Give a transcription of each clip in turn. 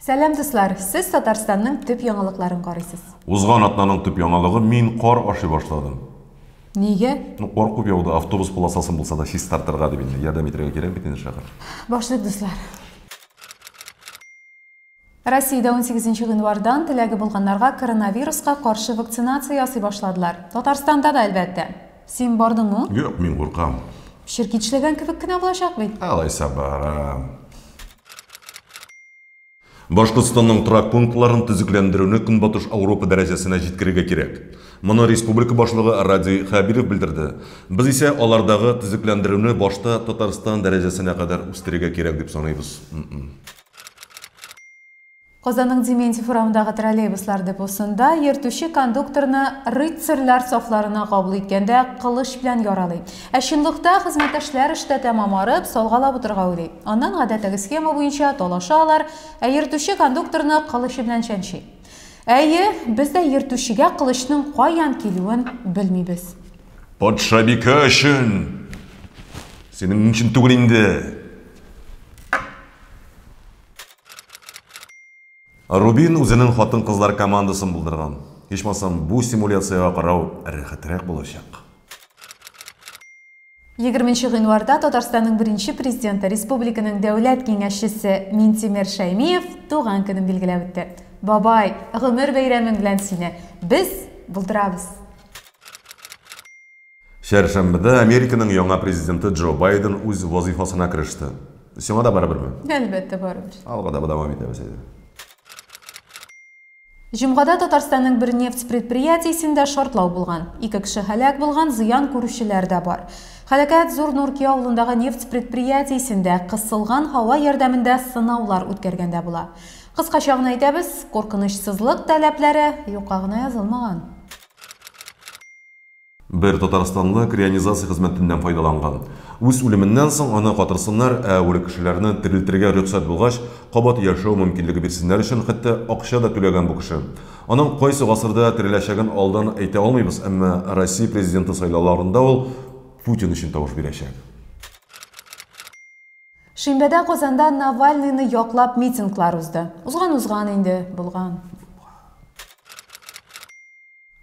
Сәлам дуслар, сез Татарстанның төп яңалыкларын карыйсыз. Узган атнаның төп яңалыгы мин кар ашый башладым. Нигә? Ну, кар күп яуды, автобус полосасын булса да чистартырга дип инде, ярдәм итәргә кирәк бит инде шәхер. Башлыйк дуслар. Россиядә унсигезенче гыйнвардан теләге булганнарга коронавируска каршы вакцинация ясый башладылар. Татарстанда да, әлбәттә. Син бардыңмы? Юк, мин куркам. Черкичләгән кебек кенә булачак бит. Алайса барам. Башкортстанның торак пунктларын төзекләндерүне Көнбатыш Ауропа дәрәҗәсенә җиткерергә кирәк. Моны республика башлыгы Радий Хәбиров белдерде. Без исә алардагы төзекләндерүне башта Татарстан дәрәҗәсенә кадәр үстерергә кирәк дип саныйбыз. Казанның Дементьев урамындагы троллейбуслар депосында йөртүче кондукторны рыцарьлар сафларына кабул иткәндә кылыч белән яралый. Ә чынлыкта хезмәттәшләр эштә тәмам арып, салгалап утырырга уйлый. Аннан гадәттәге схема буенча талаша алар, ә йөртүче кондукторны кылычы белән чәнчи. Әйе, без дә йөртүчегә кылычның каян килүен белмибез. Патшабикә өчен! Синең өчен түгел инде! Рубин үзенең хатын-кызлар командасын булдырган. Ичмасам, бу симуляциягә карау рәхәтрәк булачак. Егерменче гыйнварда Татарстанның беренче Президенты, республиканың Дәүләт киңәшчесе Минтимер Шәймиев туган көнен билгеләп үтте. Бабай, гомер бәйрәмең белән сине без булдырабыз! Чәршәмбедә Американың яңа президенты Джо Байден үз вазыйфасына кереште. Сиңа да барыберме? Әлбәттә, барыбер. Алга таба дәвам итәбез әйдә. Җомгада Татарстанның бер нефть предприятиесендә шартлау булган. Ике кеше һәлак булган, зыян күрүчеләр дә бар. Һәлакәт Зур Нурки авылындагы нефть предприятиесендә кысылган һава ярдәмендә сынаулар үткәргәндә була. Кыскача гына әйтәбез, куркынычсызлык таләпләре юкка гына язылмаган. Бер татарстанлы крионизация хезмәтеннән файдаланган. Үз үлеменнән соң аны катырсыннар, ә үле кешеләрне терелтергә рөхсәт булгач, кабат яшәү мөмкинлеге бирсеннәр өчен хәтта акча да түләгән бу кеше. Аның кайсы гасырда тереләчәген алдан әйтә алмыйбыз, әмма Россия президенты сайлауларында ул Путин өчен тавыш бирәчәк. Шимбәдә Казанда Навальныйны яклап митинглар узды. Узган узган инде, булган булган.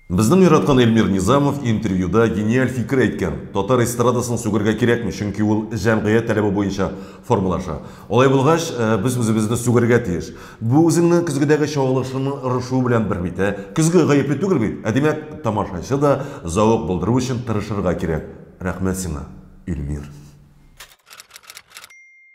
Безнең яраткан Эльмир Низамов интервьюда гениаль фикер әйткән, татар эстрадасын сүгергә кирәкми, чөнки ул җәмгыять таләбе буенча формалаша. Алай булгач, без үзебезне сүгергә тиеш. Бу үзеңнең көзгедәге чагылышыңның орышуы белән бер бит, ә? Көзге гаепле түгел бит, ә димәк, тамашачы да зәвык булдыру өчен тырышырга кирәк. Рәхмәт сиңа, Эльмир!